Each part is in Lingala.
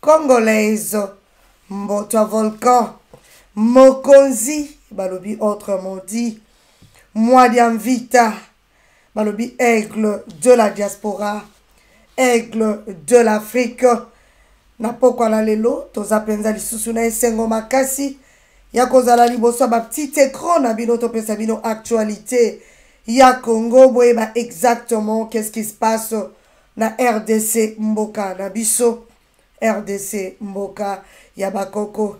Congolais Mbotwa Volcan Mokonzi balobi autrement dit Mwadianvita balobi aigle de la diaspora aigle de l'Afrique na pokwa na lelo toza mpenza lisusu na esengo makasi ya kozala liboso ya baptite ecran na bino topesa bino actualité ya congo boyeba exactement qu'est ce qui se passe na rdc mboka na biso rdc mboka ya bakoko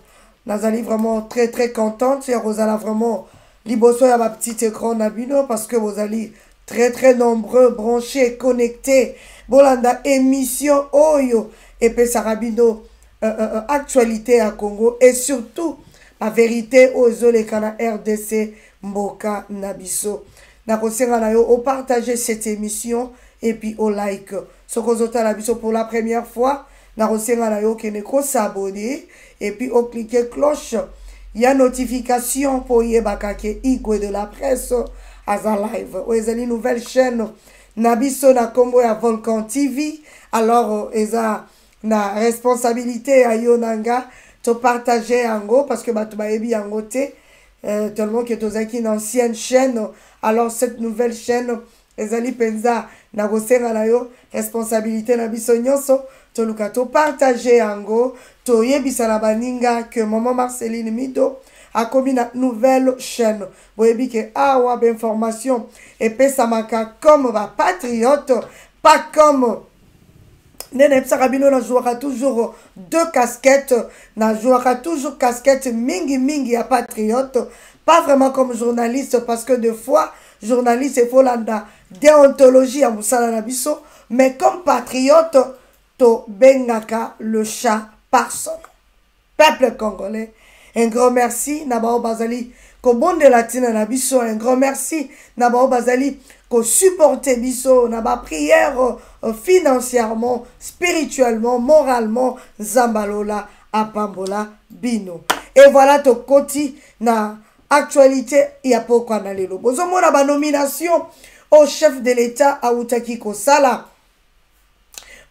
nazali vraiment très très contente ya kozala vraiment liboso ya bapetite ecran na bino parce que bozali très très nombreux branché connecté bolanda émission oyo epesaka bino euh, euh, euh, actualité ya congo et surtout baverité oyo ezoleka na rdc mboka na biso nakosenga na yo opartage cette émission epuis olike soki ozotala biso pour la première fois nakosenga na yo okende kosabone epuis oklike cloche ya notification mpo oyebaka ke igwe de la presse aza live oyo ezali nouvelle chaîne na biso na nkombo ya volcan tv alors eza na responsabilité ya yo na nga topartage yango parce que bato bayebi yango te euh, tellement que tozalaki na ancienne chaîne alors cette nouvelle chaîne ezali mpenza na kosenga na yo responsabilité na biso nyonso toluka topartage yango toyebisa na baninga que maman marceline mido akomi na nouvelle chaîne boyebi ke awa bainformation epesamaka comme bapatriote pas comme nde nayebisaka bino nazwaka toujours deux casquettes nazwaka toujours casquette mingi mingi ya patriote pas vraiment comme journaliste parce que de fois journaliste efo landa deontologie ya mosala na biso mais comme patriote tobengaka le chat par son Peuple congolais, un grand merci na bao bazali kobondela tina na biso, un grand merci na bao bazali ko supporter biso na ba prière euh, financièrement, spirituellement, moralement, Zambalola apambola bino. Et voilà tokoti na actualité ya pokwa na lelo. Bozomona ba nomination au chef de l'État autaki kosala.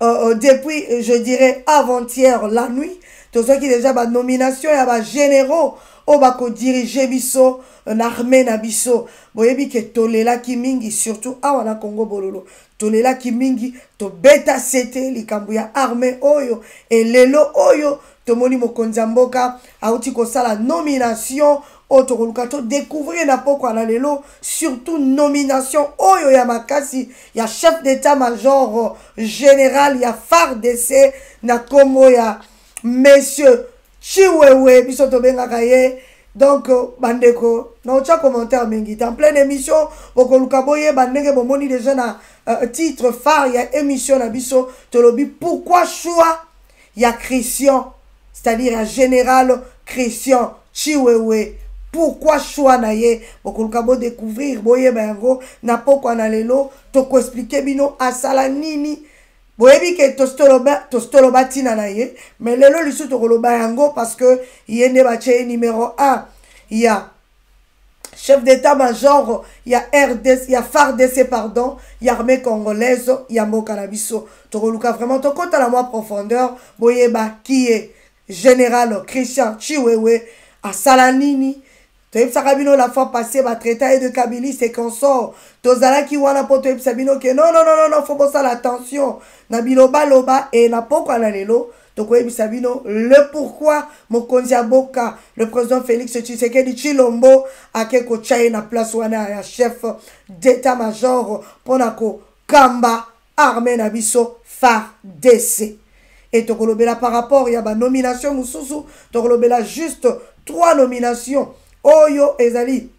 euh, euh, depuis, euh, je dirais, avant-hier, la nuit, qui déjà ma nomination ya ba généraux oyo oh, bakodirige biso euh, na armée na biso boyebi ke tolelaki mingi surtout awa na congo bololo tolelaki mingi tobeta sete likambo ya armée oyo elelo oyo tomoni mokonzi ya mboka auti kosala nomination oyo tokoluka to découvrir na pokwa na lelo surtout nomination oyo ya makasi ya chef d'état major général ya fardc na nkombo ya monsieur chiwewe biso tobengaka ye donc bandeko naotya commentaire mingi te en pleine émission bokoluka boyeba ndenge bomoni déjà na uh, titre phare ya émission na biso tolobi pourquoi choix ya christian c'est-à-dire ya général christian chiwewe pourquoi choix na ye bokoluka bodécouvrir boyeba yango na pokwa na lelo tokoexplike bino asala nini boyebi ke tositoloba ntina na ye mais lelo lisusu tokoloba yango parce que ye nde batye ye numero 1 ya chef d'état major ya rdc ya fardc pardon ya armée congolaise ya mboka na biso tokoluka vraiment tokɔta na mwa profondeur boyeba kiye général christian chiwewe asala nini toyebisaka bino la fois passé batraita ye de kabilis et consort tozalaki wana mpo toyebisa bino ke nonononono fo bosala attention na bilobaloba e na pokwa na lelo tokoyebisa bino le pourquoi mokonzi ya boka le président félix tshisekedi tshilombo ake kotya ye na place wana ya chef d'état major mpo na kokamba armée na biso fardc e tokolobela par rapport ya banomination mosusu tokolobela juste trois nomination oyo ezali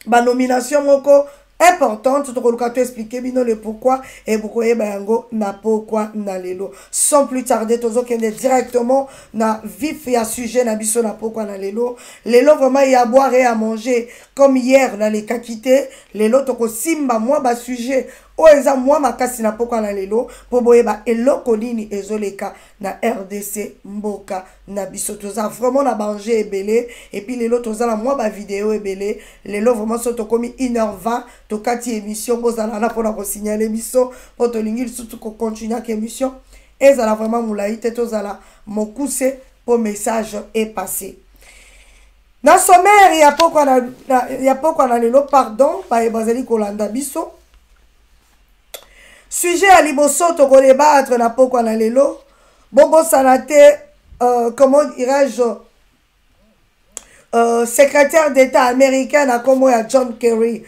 ba nomination moko importante tokoluka to expliquer bino le pourquoi et bokoyeba yango na pokwa na lelo sans plus tarder tozokende directement na vif ya sujet na biso na pokwa na lelo lelo vraiment ya boire et à manger comme hier nalekaki te lelo tokosimba mwa basujet oyo eza mwa makasi na pokwa na lelo mpo boyeba eloko nini ezoleka na rdc mboka na biso toza vraiment na banger ebele epuis lelo toza na mwa bavideo ebele lelo vraiment so tokomi 1h20 tokati émission bozala wana mpona kosignale biso mpo tolingi lisusu kocontinuaka émission ezala vraiment molai te tozala mokuse mpo message epasse na sommaire ya pokwa na, na, ya pokwa na lelo pardon baye bazali kolanda biso sujet ya liboso tokodebatre na pokwa na lelo bobosana te euh, comment dirais-je euh, secrétaire d'état américain na nkombo ya john kerry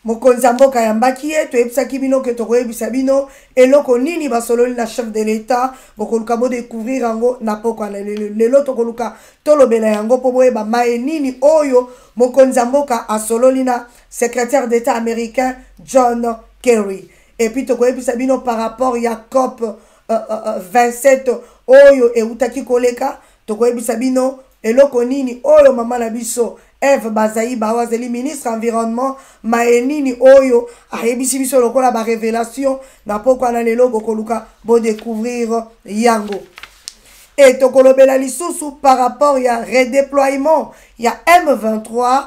mokonzi ya mboka ayambaki ye toyebisaki bino ke tokoyebisa bino eloko nini basololi na chef de l'état bokoluka bodecouvrir yango na pokwa na lelo tokoluka tolobela yango mpo boyeba maye nini oyo mokonzi ya mboka asololi na secrétaire d'état américain john kerry epuis tokoyebisa bino par rapport ya cope 27 oyo eutaki koleka tokoyebisa bino eloko nini oyo mama na biso eve bazaiba oyo azali ministre environnement maye nini oyo ayebisi biso lokola barevelation na pokwa na lelo bokoluka bodecouvrir yango e tokolobela lisusu par rapport ya redeploiement ya m23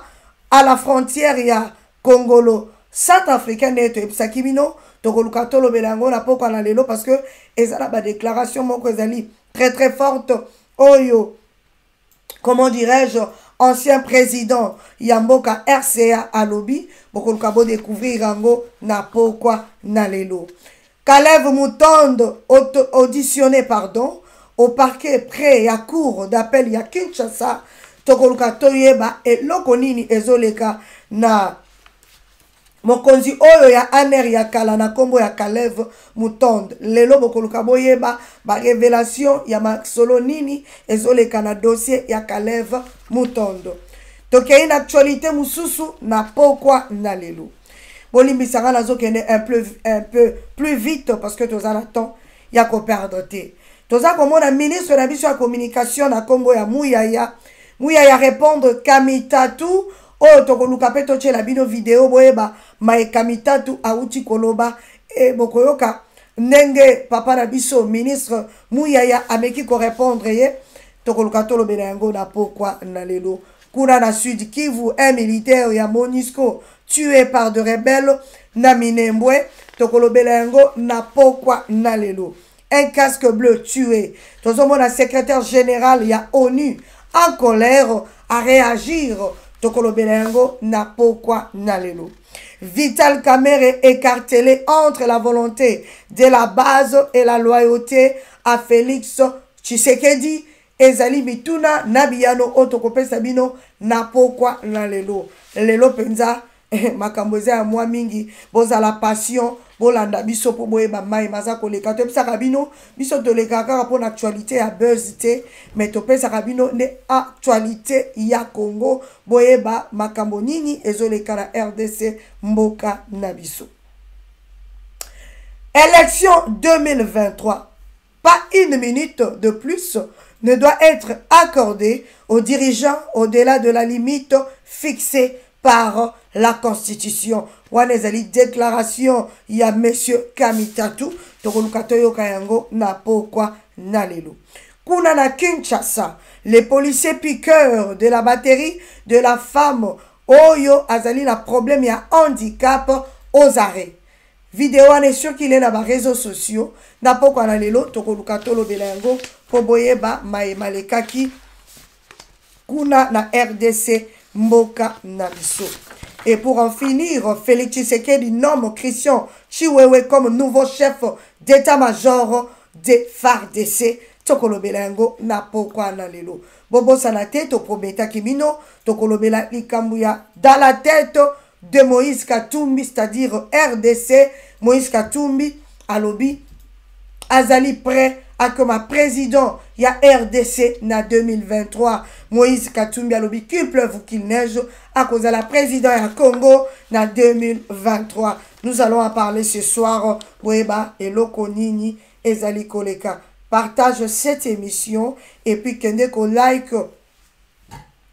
à la frontière ya Kongolo, South Africa nde toyebisaki bino tokoluka tolobela yango na pokwa na lelo parce que eza na badéclaration moko ezali très très forte oyo comment dirais-je ancien président ya mboka rca alobi bokoluka bodécouvrir yango na pokwa na lelo Kalev Mutondo, auditionné pardon, au parquet près ya cour d'appel ya Kinshasa, tokoluka toyeba eloko nini ezoleka na mokonzi oyo ya aner ya kala na nkombo ya Kalev Mutondo. Lelo bokoluka boyeba ba revelation ya masolo nini ezoleka na dossier ya Kalev Mutondo. Tokei na actualité mosusu na pokwa na lelo. bolimbisanga nazokende un peu, un peu plus vite parce que toza na temps ya koperdre te toza komona ministre na biso ya communication na nkombo ya muyaya muyaya répondre kamitatu oyo tokoluka mpe totyela bino video boyeba maye kamitatu awuti koloba e bokoyoka ndenge papa na biso ministre muyaya ameki korépondre ye tokoluka tolobela yango na pokwa na lelo Kuna na Sud Kivu, un militaire ya Monisco tue par de rebelles na Minembwe, tokolobela yango na pokwa na lelo. Un casque bleu tue. Tozomona secrétaire général ya ONU en colère à réagir tokolobela yango na pokwa na lelo. Vital Kamerhe écartelé entre la volonté de la base et la loyauté à Félix Tshisekedi Ezali mituna na biyano oyo tokopesa bino na pokwa na lelo. Lelo mpenza makambo eza ya mwa mingi. Bozala patient, bolanda biso mpo boyeba mai maza koleka. Toyebisaka bino, biso tolekaka kaka mpo na actualite ya buzz te, mais topesaka bino nde actualite ya Congo, boyeba makambo nini ezoleka na RDC, mboka na biso. Election 2023 Pas une minute de plus ne doit être accordée aux dirigeants au-delà de la limite fixée par la constitution wana ezali déclaration ya monsieur kamitatu tokoluka toyoka yango na pokwa na lelo kuna na kinshasa les policiers piqueurs de la batterie de la femme oyo azali na problème ya handicap aux arrêts Video wana est circule na ba réseaux sociaux na pokwa na lelo tokoluka tolobela yango mpo boyeba maye malekaki kuna na RDC mboka na biso. Et pour en finir, Félix Tshisekedi nomme Christian Chiwewe comme nouveau chef d'état-major de FARDC tokolobela yango na pokwa na lelo bobosana te toprometaki bino tokolobela likambo ya dans la tête de Moïse Katumbi, c'est-à-dire RDC, Moïse Katumbi, Alobi, Azali prêt à comme un président, il y a RDC na 2023. Moïse Katumbi Alobi, qu'il pleuve ou qu'il neige, à cause de la président à Congo na 2023. Nous allons en parler ce soir, Boeba et Lokonini et Zali Koleka. Partage cette émission et puis que ko like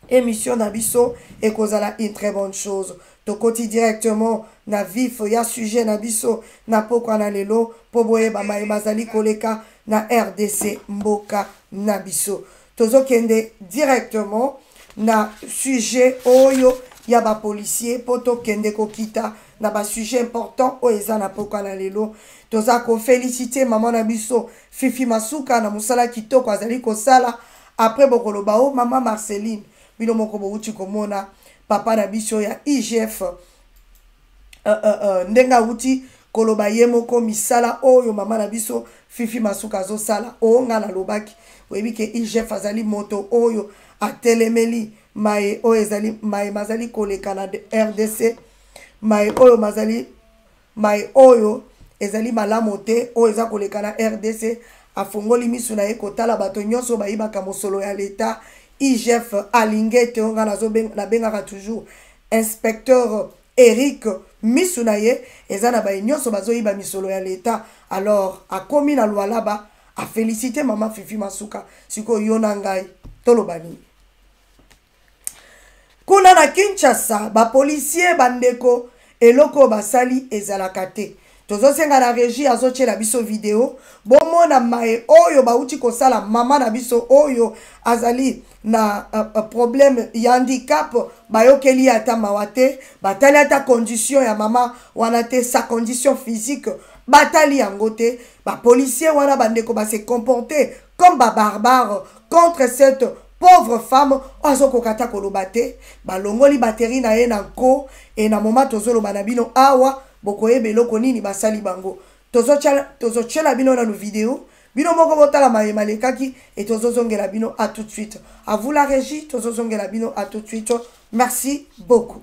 Emission na biso ekozala une très bonne chose. Tokoti directement na vif ya sujet na biso na pokwa na lelo mpo boyeba maye mazali koleka na RDC mboka na biso. Tozokende directement na sujet oyo ya ba policiers mpo tokende kokita na ba sujet important oyo eza na pokwa na lelo. Toza ko feliciter maman na biso Fifi Masuka na mosala kitoko azali kosala. après bokoloba o mama marceline bino moko bowuti komona papa na biso ya igf uh, uh, uh, ndenge awuti koloba ye moko misala oyo mama na biso fifi masuka azosala o ngai nalobaki oyebi ke igf azali moto oyo atelemeli maye oyo ezali maye mazali koleka na rdc maye oyo mazali Mai oyo ezali malamo te oyo eza koleka na rdc. Afongoli misu na ye kotala bato nyonso oyo bayibaka mosolo ya leta. IGF Alingete oyo nga nazo benga, na bengaka toujours inspecteur Eric, misu na ye eza na baye nyonso bazo yiba misolo ya leta. Alors akomi na Lualaba a feliciter maman Fifi Masuka. Sikoyo yo na ngai toloba nini? Kuna na Kinshasa, ba policiers ba ndeko eloko oyo basali ezalaka te. Tozosenga na regie azotiela biso video bomona maye oyo bauti kosala mama na biso oyo azali na uh, problème ya handicap bayokeli ye ata mawa te batali ata condition ya mama wana te sa condition physique batali yango te bapolisier wana bandeko base comporte comme ba barbare contre cette pauvre femme oyo azokoka ata koloba te balongoli bateri na ye na nko e na moma tozoloba na bino awa bokoyeba eloko nini basali bango tozotyela bino nanu video bino moko botala maye malekaki e tozozongela bino a tout de suite avula regi tozozongela bino a tout de suite merci beaucoup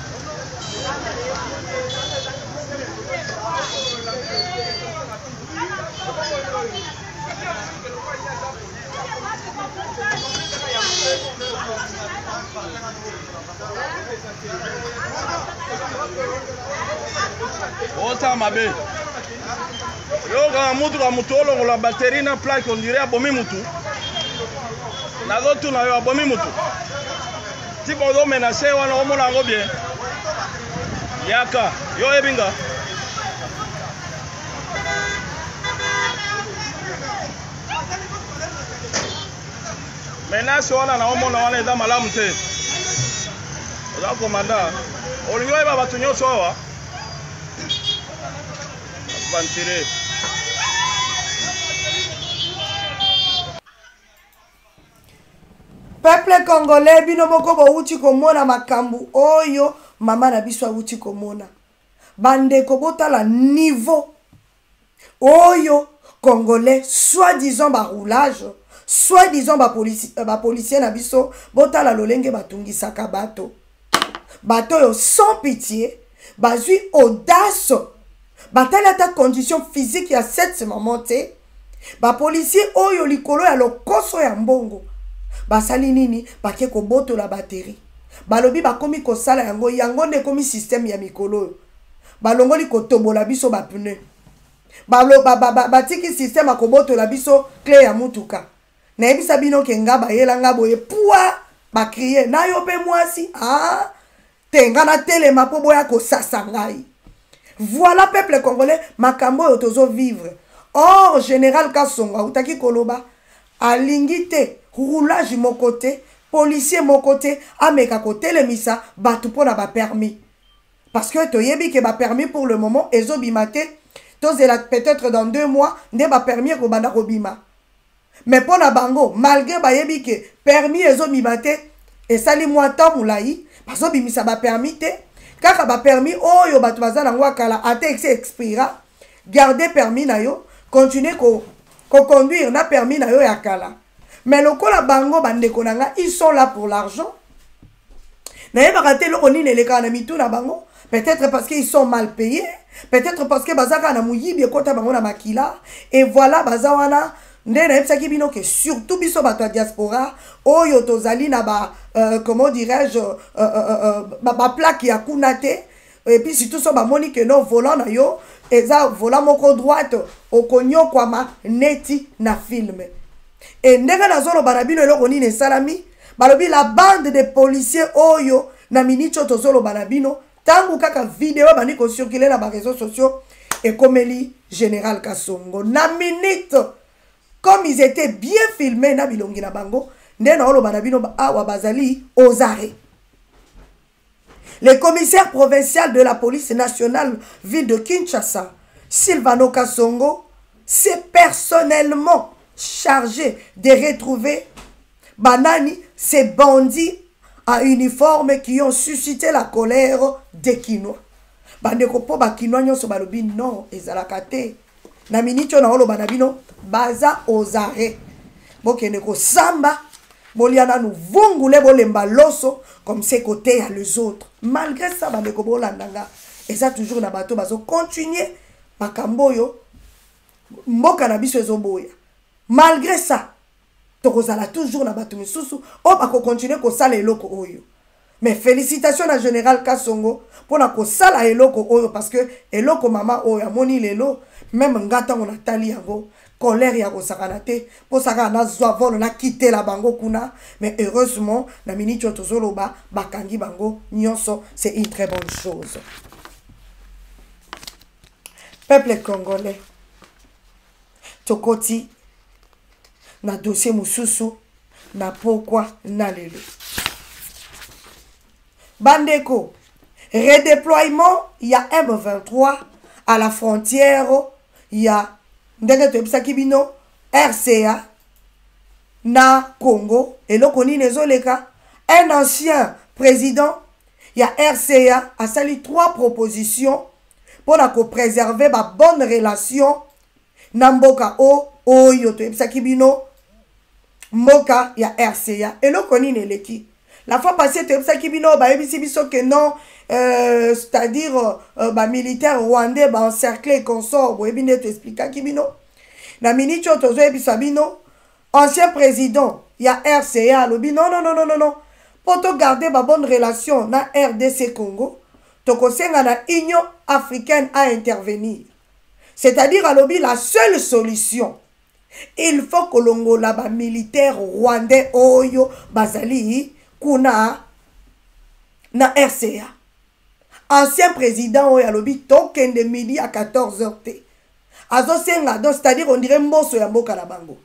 osala mabe yokaka motuka motu olongola bateri na plake ondire abomi motu nazotuna yo abomi motu Tika ozo menace wana omona yango bien. Yaka, yo oyebi nga. Menace wana na omona wana eza malamu te. Oza komanda. Olingi oyeba bato nyonso awa. Aventurier. peuple congolais bino moko bowuti komona makambo oyo mama na biso awuti komona bandeko botala niveau oyo congolais soit disant baroulage soit disant bapolicier ba euh, na biso botala lolenge batungisaka bato bato oyo sans pitié bazwi audace batali ata condition physique ya cette maman te bapolisier oyo likolo ya lokoso ya mbongo basali nini bake kobotola bateri balobi bakomi kosala yango yango nde ekomi systeme ya mikolo oyo balongoli kotobola biso bapneu batiki ba, ba, ba, ba, systeme akobotola biso cle ya motuka nayebisa bino ke nga bayela nga boye pua bakrie na yo mpe mwasi aa ah, te nga natelema mpo boya kosasa ngai voilà peuple congolais makambo oyo tozo vivre or général kasongo autaki koloba alingi te roulage moko te policier moko te ameka kotelemisa bato mpo na bapermis parce que toyebi ke bapermis pour le moment ezobima te tozela peut-être dans deux mois nde bapermis ekobanda kobima mais mpo na bango malgre bayebi ke permis ezobima te esali mwa temps molai bazobimisa bapermis te kaka bapermis oyo bato baza nango ya kala ata esi expira garde permis na yo continue koconduire ko na permis na yo ya kala mais lokola bango bandeko na nga ils sont là pour l'argent nayebaka te eloko nini elekaka na mitu na bango peut-être parce qu'ils sont mal payés peut-être parce que baza kaka na moyibi ekota bango na makila et voilà baza wana nde nayebisaki bino ke surtout biso bato ya diaspora oyo tozali na ba euh, comment dirais-je euh, euh, euh, euh baplaque ya kuna te et puis surtout so bamoni que non volant na yo eza volant moko droite okonyokwama neti na film e ndenge nazoloba na bino eloko nini esalami balobi la bande de policier oyo na miniti oyo tozoloba na bino ntango kaka video ebandi kocircule na bareseau sociaux ekomeli général kasongo na minute comme ils étaient bien filme na bilongi na bango nde naoloba na bino awa bazali ozare Le commissaire provincial de la police nationale ville de Kinshasa, Silvano Kassongo, s'est personnellement chargé de retrouver Banani, ces bandits à uniforme qui ont suscité la colère des Kinois. Bandeko po ba Kinois nyonso balobi non ezalaka te. na miniti oyo naoloba na bino baza ozare bokende kosamba bolia nanu vungule bolemba loso comme se koteya les autres malgré ça bandeko bolanda nga eza toujours na bato bazocontinue makambo oyo mboka na biso ezoboya malgré ça tokozala toujours na bato misusu oyo bakokontinue kosala eloko oyo mais félicitation na général kasongo mpo na kosala eloko oyo parce que eloko mama oyo amoni lelo meme nga ntango natali yango colère ya kosakana te mposa kaka nazwa volo nakitela bango kuna mais heureusement na miniti oyo tozoloba bakangi bango nyonso c'est une très bonne chose peuple congolais tokoti na dossier mosusu na pokwa na lelo bandeko redéploiement ya m23 à la frontière ya ndenge toyebisaki bino rca na congo eloko nini ezoleka un ancien président ya rca asali trois propositions mpo na kopreserve babonne relation na mboka o oyo toyebisaki bino mboka ya rca eloko nini eleki la fois passé toyebisaki bino bayebisi biso ke non euh, c'est-à-dire euh, bamilitaire rwandais baencercle et consort boyebi nde toexplikaki bino na miniti oyo tozoyebisa bino ancien président ya rca alobi non non non non non mpo togarde babonne relation na rdc congo Tokosenga na Union africaine a intervenir. C'est-à-dire alobi la seule solution il faut kolongola ba militaires rwandais oyo bazali kuna na RCA. Ancien président oyo alobi tokende midi à 14h te. Azosenga donc c'est-à-dire on dirait mboso ya mboka na bango.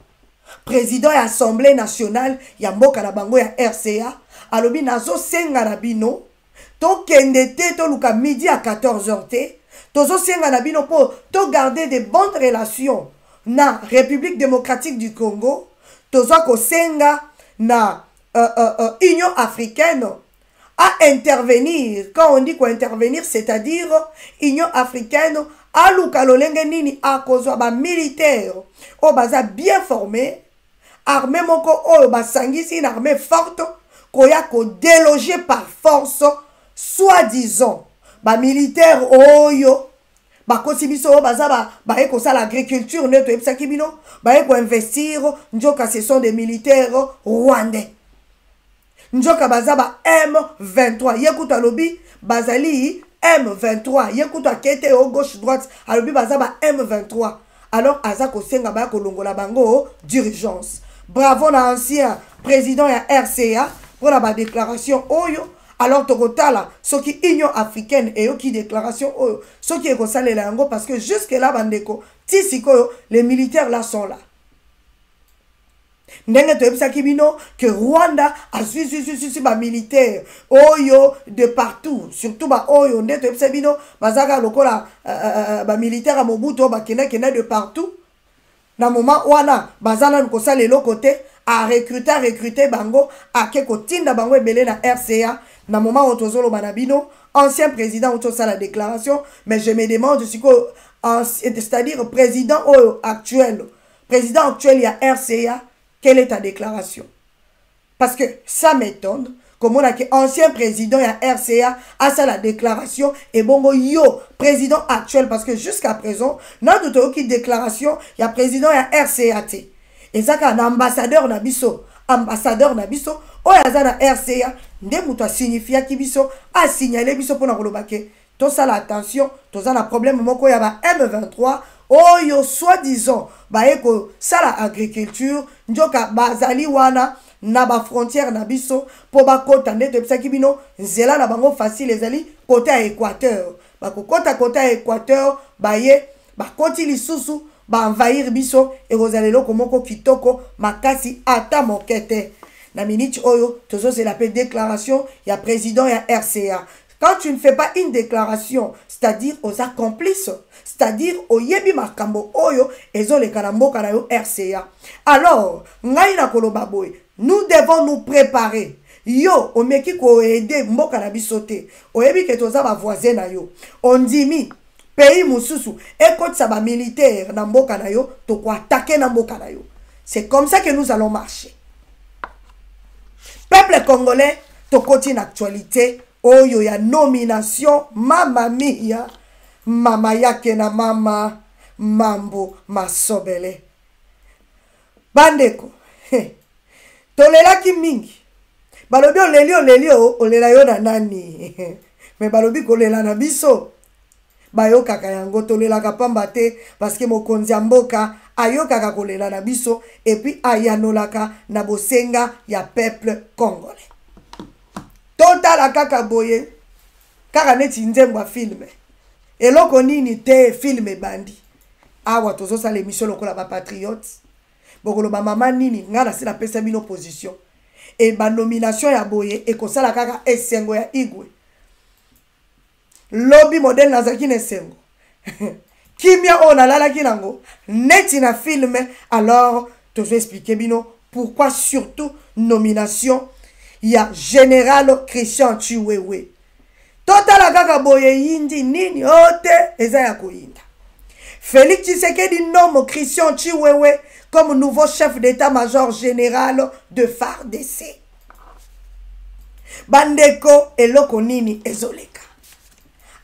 Président ya Assemblée nationale ya mboka na bango ya RCA alobi nazosenga na bino tokende te toluka midi ya 14 heures te tozosenga na bino mpo togarde de bonne relation na république démocratique du congo toza kosenga na uh, uh, uh, union africaine a intervenir quand on dit ko intervenir c'est-à-dire union africaine aluka lolenge nini akozwa bamilitaire oyo baza bien forme armée moko oyo basangisi une armée forte koya kodeloge par force soit disant bamilitaire oyo bakosi biso oyo baza baye kosala agriculture nde toyebisaki bino baye koinvestir nzoka ce sont des militaires rwandais nzoka baza ba m23 ye kutu alobi bazali m23 ye kutu akei te o gauche droite alobi baza ba m23 alors aza kosenga baya kolongola bango d'urgence bravo na ancien président ya rca mpo na badéclaration oyo alors tokotala soki union africaine eyoki déclaration oyo soki ekosalela yango parce que jusque là bandeko ti sikoyo les militaires là sont là ndenge toyebisaki bino que rwanda azwi zwizwizwi bamilitaire oyo de partout surtout baoyo nde toyebisa bino bazalaka lokola uh, uh, bamilitaire ya mobutu oyo bakendakenda de partout na moma wana baza nanu kosala eloko te arecrute arecrute bango ake kotinda bango ebele na rca na moma oyo tozoloba na bino ancien président outi osala déclaration mais je me demande sikoyo c'est-à-dire président oyo actuel Président actuel ya RCA, quelle est ta déclaration Parce que ça m'étonne komona ke ancien président ya RCA asala déclaration ebongo yo président actuel parce que jusqu'à présent nanu toyoki déclaration ya président ya RCA te eza kaka na ambassadeur na biso ambassadeur na biso oyo aza na RCA nde moto asignifiaki biso asignale biso mpo na koloba ke Tosala attention, toza na problème moko ya ba M23 oyo soit disant baye kosala agriculture njoka bazali wana na ba frontière na biso mpo bakota nde toyebisaki bino nzela na bango facile ezali kota ya équateur bakokota kota ya équateur baye bakoti lisusu baenvahir biso ekozala eloko moko kitoko makasi ata moke te na miniti oyo tozozela mpe déclaration ya président ya rca Quand tu ne fais pas une declaration, c'est-à-dire oza complice, c'est-à-dire oyebi makambo oyo ezoleka na mboka na yo RCA. Alors, ngai na koloba boye, nous devons nous préparer. yo omeki koede mboka na biso te oyebi ke toza bavoisin na yo ondimi pays mosusu ekotisa bamilitaire na mboka na yo tokoatake na mboka na yo c'est comme ça que nous allons marcher peuple congolais tokoti na actualité oyo ya nomination mama mia mama yake na mama mambo masobele bandeko tolelaki mingi balobi oleli oleli olela yo na nani me balobi kolela na biso bayokaka yango tolelaka pamba te paske mokonzi ya mboka ayokaka kolela na biso epuis ayanolaka na bosenga ya peuple congolais totala kaka boye kaka neti nzembo ya filme eloko nini te filme ebandi awa tozosala emission lokola bapatriote bokoloba mama nini ngai nasi napesa bino position e banomination ya boye ekosala kaka esengo ya igwe lobi modele nazalaki na esengo kimia oyo nalalaki nango neti na filme alors tozo explike bino pourquoi surtout nomination ya général christian chiwewe totala kaka boye yindi nini o te eza ya koyinda félix tshisekedi nomo christian chiwewe comme nouveau chef d'état major général de fardc bandeko eloko nini ezoleka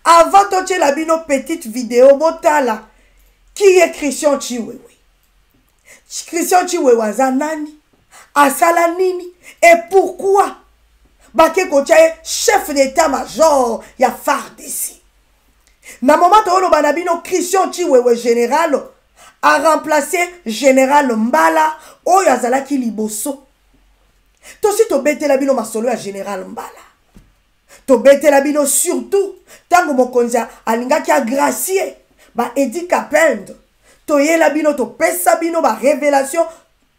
avant totyela bino petite video botala qui est christian chiwewe christian chiwewe aza nani asala nini et pourquoi bake kotya ye chef d'état major ya fardc na moma tooloba na bino christian chiwewe général aremplace général mbala oyo azalaki liboso tosi tobetela bino masolo ya général mbala tobetela bino surtout ntango mokonzi alingaki agracie ba edi capend toyela bino topesa bino barévélation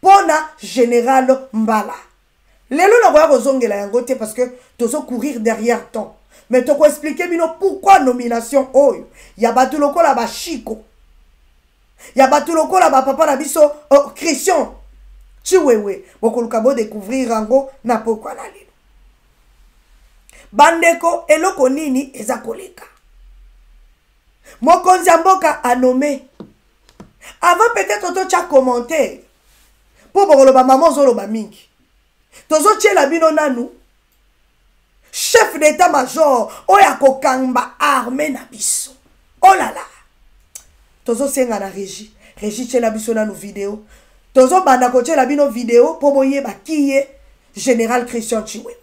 mpo na général mbala lelo nakoya kozongela yango te parce que tozo courir derrière temps mais tokoexplike bino pourquoi nomination oyo ya bato lokola bashiko ya bato lokola bapapa na biso oh, christian chiwewe bokoluka bodécouvrir yango na pokwa na lelo bandeko eloko nini eza koleka mokonzi ya mboka anome avant peut-être totya commentaire mpo bokoloba mama ozoloba mingi tozotyela bino nanu chef d'état major oyo akokamba arme na biso olala oh tozosenga na régi régi tyela biso nanu video tozobanda kotyela bino video mpo boyeba kiye général christian chiwewe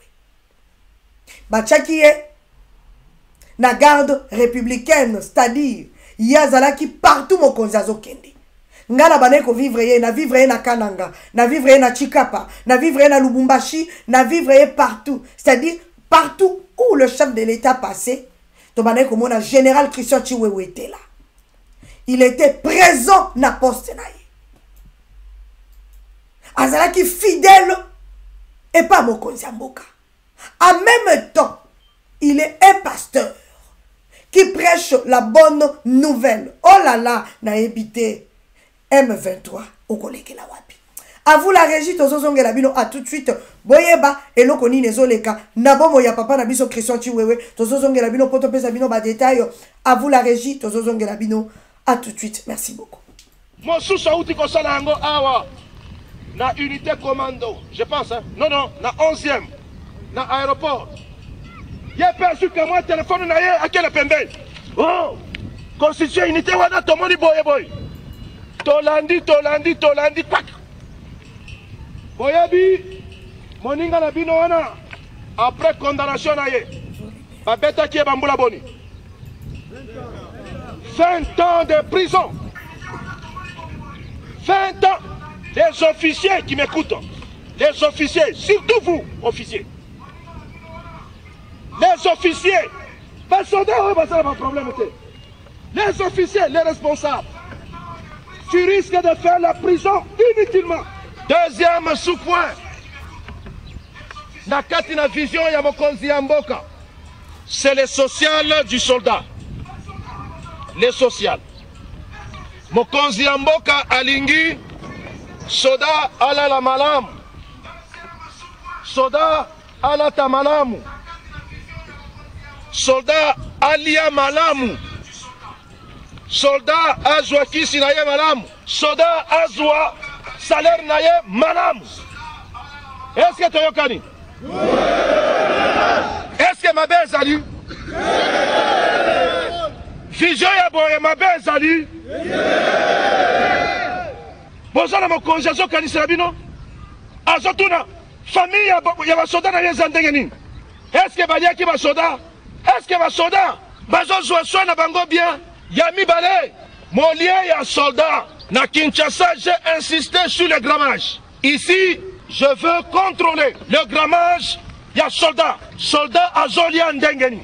batyaki ye na garde républicaine c'est-à-dire ye azalaki partout mokonzi azokende ngai na bandaki kovivre ye na vivre ye na kananga na vivre ye na chikapa na vivre ye na lubumbashi na vivre ye partout c'est-à-dire partout où le chef de l'état passé tobandaki komona général christian chiwewetela il était présent na poste na ye azalaki fidèle epa mokonzi ya mboka En même temps, il est un pasteur qui prêche la bonne nouvelle. Oh là là, na ebité M23 okolekela wapi. A vous la régie tozozongela bino à tout de suite. Boyeba eloko nini ezoleka na bomo ya papa na biso Christian Chiwewe tozozongela bino poto pesa bino ba détails. A vous la régie tozozongela bino à tout de suite. Merci beaucoup. Mosusu awuti kosala yango awa na unité commando, je pense, hein? non non, na 11e na aéroport. Ye pe azwi kamwa telefone na ye akende pembeni. Oh, constitution unité wana tomoni boye boye, tolandi tolandi tolandi pak. Boyebi moninga na bino wana après condamnation na ye Babetaki ye bambula boni? 20 ans de prison. 20 ans. Les officiers qui m'écoutent, les officiers, surtout vous, officiers, les officiers, basonda oyo basala baproblème te Les officiers, les responsables, tu risques de faire la prison inutilement. Deuxième sous-point, na kati na vision ya mokonzi ya mboka, c'est le social du soldat. Le social. Mokonzi ya mboka alingi soda alala malamu. Soda alata malamu soldat alia malamu soldat azwa kisi na ye malamu soldat azwa salaire na ye malamu eske toyokani eske mabe ezali vision ya boye mabe ezali boza na mokonzi azokanisela bino azotuna Famille ya, ya basoda na ye eza ndenge nini? Eske baliaki basoda? Eske basoda bazozwa soin na bango bien? Ya mibale, molie ya solda na Kinshasa, j'ai insisté sur le grammage. Ici, je veux contrôler le grammage ya solda. Solda azolia ndenge nini?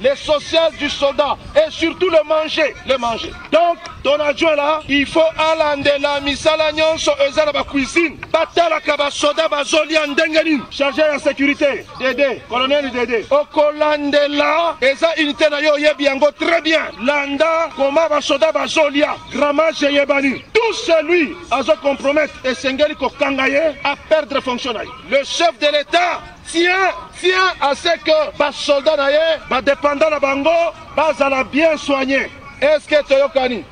les sociales du soldat et surtout le manger, le manger. Donc, ton adjoint là, il faut alandela misala nyonso eza na ba cuisine. Batalaka ba soda bazolia ndenge nini? Chargé ya sécurité, Dede, colonel Dede. Okolandela eza unité na yo oyebi yango très bien. Landa koma ba soda bazolia, grammage eyebani. Tout celui azo compromettre esengeli kokanga ye a perdre fonction na ye. Le chef de l'État tient tient à ce que ba soldats na ye ba dépendants na bango bazala bien soigner est ce que toyokani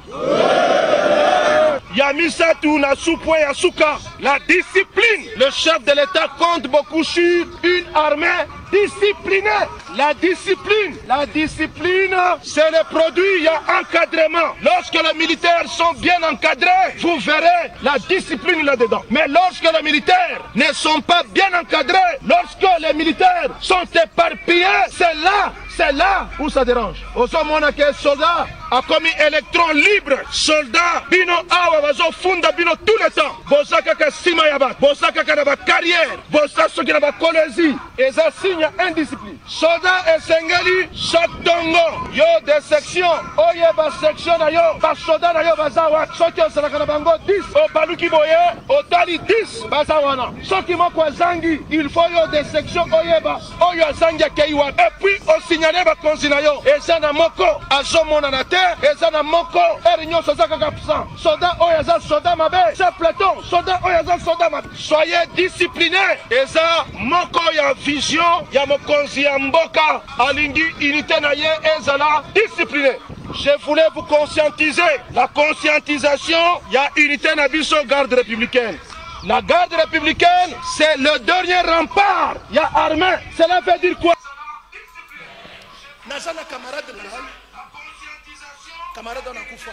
ya misatu na supwe ya suka la discipline le chef de l'état compte beaucoup sur une armée disciplinée La discipline, la discipline, c'est le produit ya encadrement. Lorsque les militaires sont bien encadrés, vous verrez la discipline là-dedans. Mais lorsque les militaires ne sont pas bien encadrés, lorsque les militaires sont éparpillés, c'est là, c'est là où ça dérange. Ozo mona que soldat a commis électron libre, soldat bino awa bazo funda bino tout le temps. Boza kaka sima ya ba, boza kaka na ba carrière, boza soki na ba kolezi. Eza signe ya indiscipline. Soda esengeli chaque tongo yo de section oye ba section na yo ba soda na yo baza wapi? Soki ozalaka na bango 10 obaluki boye otali 10 baza wana. Soki moko azangi il faut yo de section oyeba oyo azangi akeyi wapi. Et puis osignale bakonzi na yo eza na moko azomonana te eza na moko heure nyonso aza kaka absent. Soda oyo aza soda mabe ce platon soda oyo aza soda mabe soyez discipline eza moko ya vision ya mokonzi ya mboka alingi unité na ye ezala discipline je voulais vous conscientiser la conscientisation ya unité na biso garde républicaine la garde républicaine c'est le dernier rempart ya armée cela veut dire quoi naza na camarade na ngai camarade wana akufa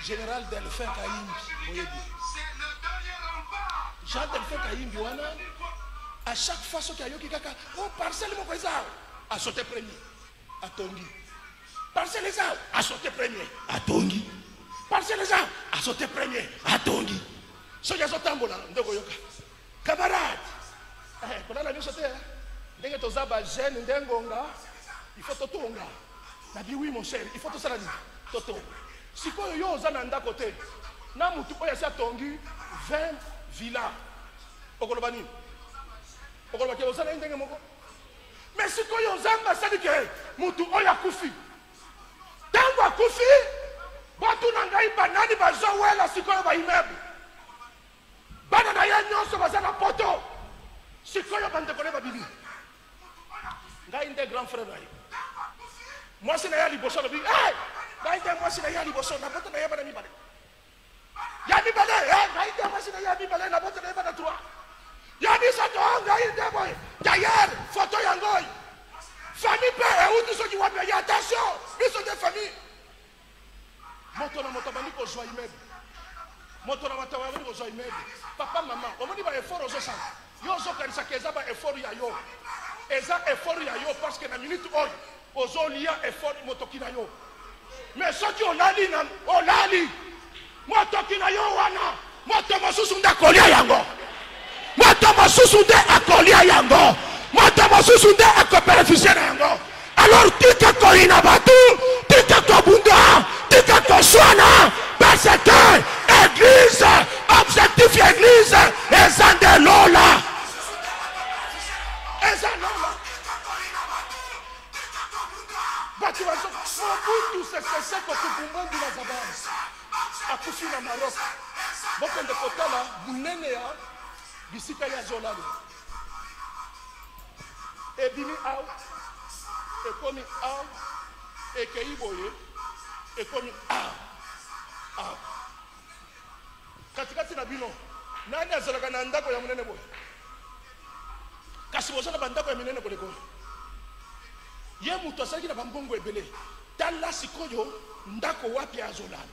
général delphin kayimbi boyebi jean delphin kayimbi wana à chaque fois soki ayoki kaka o oh, parcelle moko eza awa asote premier atongi parcelle eza awa asote premier atongi parcelle eza awa asote premier atongi soki azotambola nde okoyoka Camarade, eh, kolala nyonso te eh. ndenge toza ba jeune nde ngonga il faut totonga na bi oui mon cher il faut tosala nini totonga sikoyo yo oza na ndako te na motu oyo asi atongi 20 villa okoloba nini okoloba ke oza na ye ndenge moko me sikoyo nzambe asali ke motu oyo akufi ntango akufi batuna ngai banani bazowela sikoyo baimeble Bana na ye nyonso baza na poto sikoyo, bandeko na ye babimi. Ngai nde grand frère na ye, mwasi na ye ya liboso alobi hey! ngai nde mwasi na ye ya liboso na poto na ye bana mibale ya mibale eh, ngai nde mwasi na ye ya mibale na poto na ye bana trois ya misato oh, ngai nde boye dayere foto yango oyo famille mpe euti soki wapi aye attention biso nde famille moto na moto abandi kozwa immeuble moto na moto abandi kozwa immeuble papa mama omoni ba effort ozosala yo ozokanisaka eza ba effort ya yo eza effort ya yo parce que na minute oyo ozolia effort motoki na yo mais soki olali na olali Motoki na yo wana, moto mosusu nde akolia yango, moto mosusu nde akolia yango, moto mosusu nde akobenefisie na yango. Alors tika koyina bato, tika kobunda, tika koswana, parce que eglise, objectif ya eglise eza nde lola, eza lola. bato bazo mobutu seseseko kukumbungu na zabans akufi na marok bokende kotala monene ya bisika ya zolalo ebimi awa ekomi awa ekei boye ekomi awa awa Katikati na bino, nani azalaka na ndako ya monene boye? Kasi boza na bandako ya minene koleka oyo. Ye moto azalaki na bambongo ebele. Tala sikoyo ndako wapi azolala.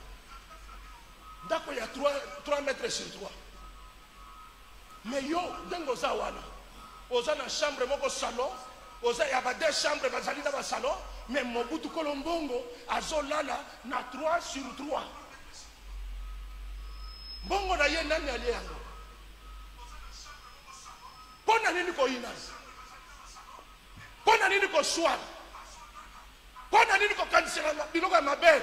Ndako ya 3, 3 mètres sur 3. Mais yo ndenge oza wana, oza na chambre moko salon, oza ya ba deux chambres bazali na ba salon, mais Mobutu Kolombongo azolala na 3 sur 3. mbongo na ye nani alie yango mpo na nini koyinana mpo na nini koswana mpo na nini kokanisela biloko ya mabe